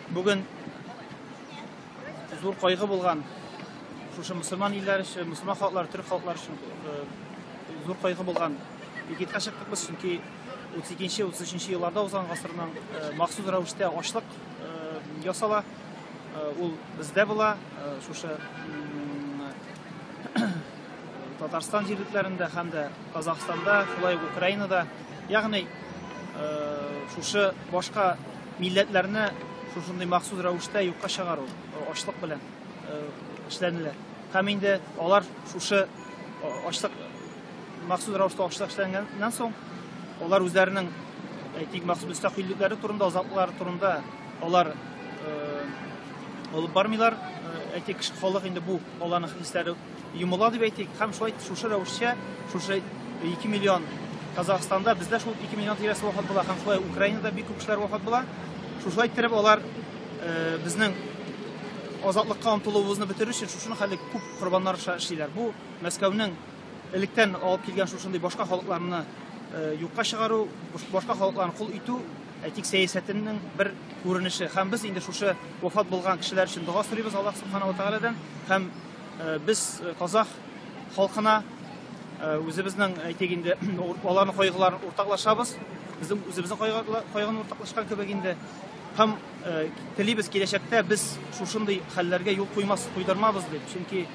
Бүген зур кайгы булган шушы мусульман илләре өчен, мусульман халыклары, төрек халыклары өчен э, зур кайгы булган пикетка чыктык без, чөнки 32-33 елларда узган гасырның э, махсус рәвештә ашлык э, ясала. Ул бездә була, шушы Татарстан җирлекләрендә һәм дә Казахстанда, шулай ук Украинада Ягъни, шушы башка милләтләрне шушындый махсус рәвештә юкка чыгару, ачлык белән эшләнелә. Һәм инде алар шушы ачлык махсус рәвештә ачлык эшләнгәннән соң, алар үзләренең әйтик махсус мөстәкыйльлекләре турында, азатлыклары турында алар алып бармыйлар. Әйтик, халык инде бу аларның хисләре Йомыла дип әйтик, һәм шулай шушы рәвешчә, шушы 2 миллион Казахстанда, бездә шул 2 миллион тирәсе вафат була, һәм шулай Украинада бик күп кешеләр вафат була. Шушылай иттереп алар э, безнең азатлыкка омтылуыбызны бетерү өчен шушыны хәле күп корбаннар аша эшлиләр. Бу Мәскәүнең электән алып килгән шушындый башка халыкларны э, юкка чыгару, башка халыкларны кул итү, әйтик, сәясәтенең бер күренеше. Һәм без инде шушы вафат булган кешеләр өчен дога сорыйбыз Аллаһ Субхану ва Тааладан һәм Без казах халкына үзебезнең, әйтик инде, аларның кайгыларын уртаклашабыз. Безнең үзебезнең кайгыны уртаклашкан кебек инде. Һәм телибез киләчәктә без шушындый хәлләргә юл куймас, куйдырмабыз дип. Чөнки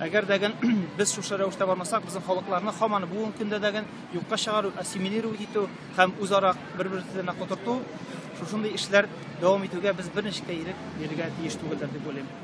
әгәр дә без шушы рәвештә бармасак, безнең халыкларны һаман бүгенге көндә дә юкка чыгару, ассимилировать итү һәм үзара бер-берсенә котырту шушындый эшләр дәвам итүгә без берничек тә ирек бирергә тиеш түгелдер дип уйлыйм.